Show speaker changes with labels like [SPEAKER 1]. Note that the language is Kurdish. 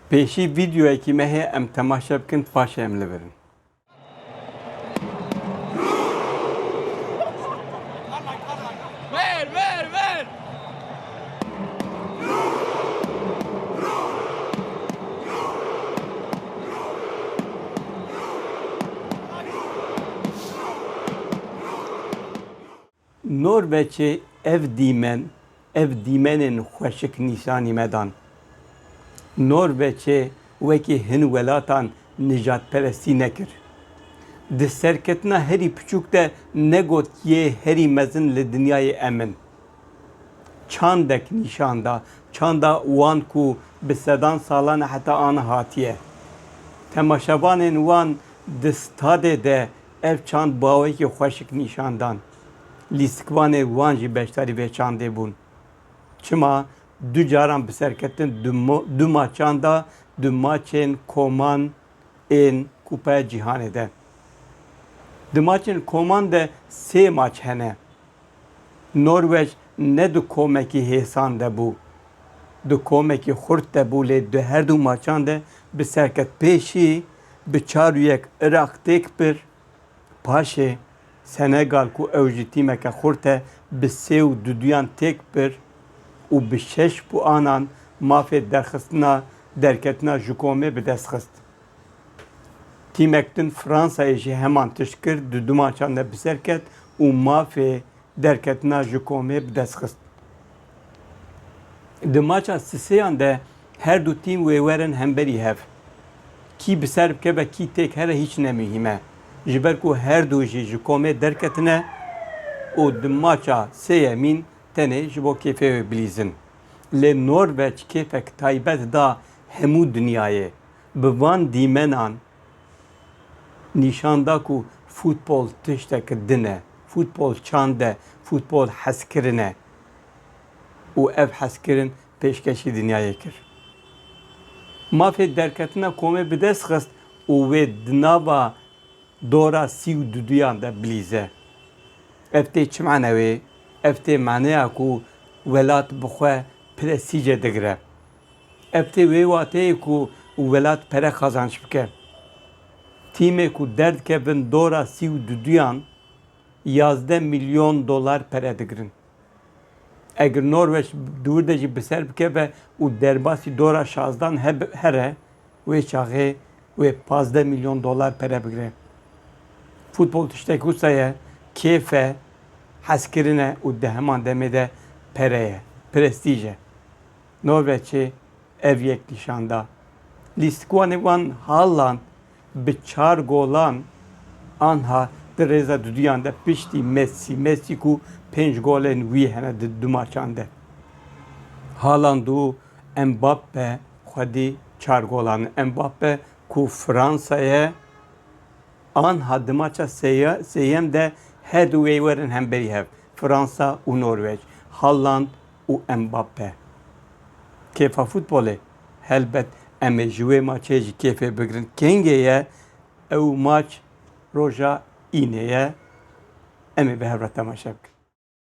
[SPEAKER 1] Pêşî vîdyoyekî me heye em temaşe bikin paşê em li vir in. Norveçê ev dîmen, ev dîmenên xweşik nîşanî me dan. Norveçê wekî hin welatan nijadperestî nekir. Di serketina herî piçûk de negot yê herî mezin li dinyayê em in. Çandek nîşan da, çanda wan ku bi sedan salan e heta aniha hatiye. Temaşevanên wan di stadê de Ev çand bawekî xweşik nîşan dan. Lîstikvanê wan jî beşdarî vê çandê bûn. Çima du caran bi serketin du maçan de du maçên koman ên Kupa ya Cîhanê de. Di maçên koman de sê maç hene. Norwec ne di komekî hêsan de bû. Di komekî xurt de bû lê di herdu maçan de bi serketpêşî Bi çar û yek Iraq têk bir, paşê Senegal ku ew jî tîmeke xurt e bi sê û du duyan têk bir û bi şeş puanan mafê derxistina derketina ji komê bi dest xist. Tîmek din Fransayê jî heman tişt kir di du maçan de bi ser ket û mafê derketina ji komê bi dest xist. Di maça sisêyan de her du tîm wê werin hemberî hev. Kî bi ser bikeve kî têk here hîç ne muhîm e. Ji ber ku her du jî ji komê derketine û di maça sê yemîn tenê ji bo kêfê wê bilîzin. Lê Norveç kêfek taybet da hemû dinyayê. Bi van dîmenan Nîşan da ku futbol tişteke din e. Futbol çand e, futbol hezkirin e û ev hezkirin pêşkêşî dinyayê kir. Mafê derketina komê bi dest xist û wê di nava dora sî û duduyan de bilîze. Ev tê çi manewê? Ev tê maneya ku welat bi xwe presîce digire. Ev tê wê wateyê ku welat pere qazanc bike. Tîmê ku derdikevin dora sî û duduyan yazdeh milyon dolar pere digirin. Egir Norweç di wir de jî bi ser bikeve û derbasî dora şazdan here, wê çaxê wê pazdeh milyon dolar pere bigire. Futbol tiştek wisa ye, kêf e, hezkirin e û di heman demê de pere ye, prestîj e. Norweçê ev yek nîşan da. Lîstkiwanê wan halan bi çar golan anha di rêza duduyan de piştî Messi Messi ku pênc golên wî hene di du maçan de. Haland û Mbappe xwedî çar golan in. Mbappe ku Fransa ye anha di maça sêyem de herdu wê werin hemberî hev, Fransa û Norweç. Haland û Mbappe. Kêfa futbolê, helbet em ê ji wê maçê jî kêfê bigirin. Kengê ye ew maç roja Înê ye. Em ê bi hev re temaşe bikin.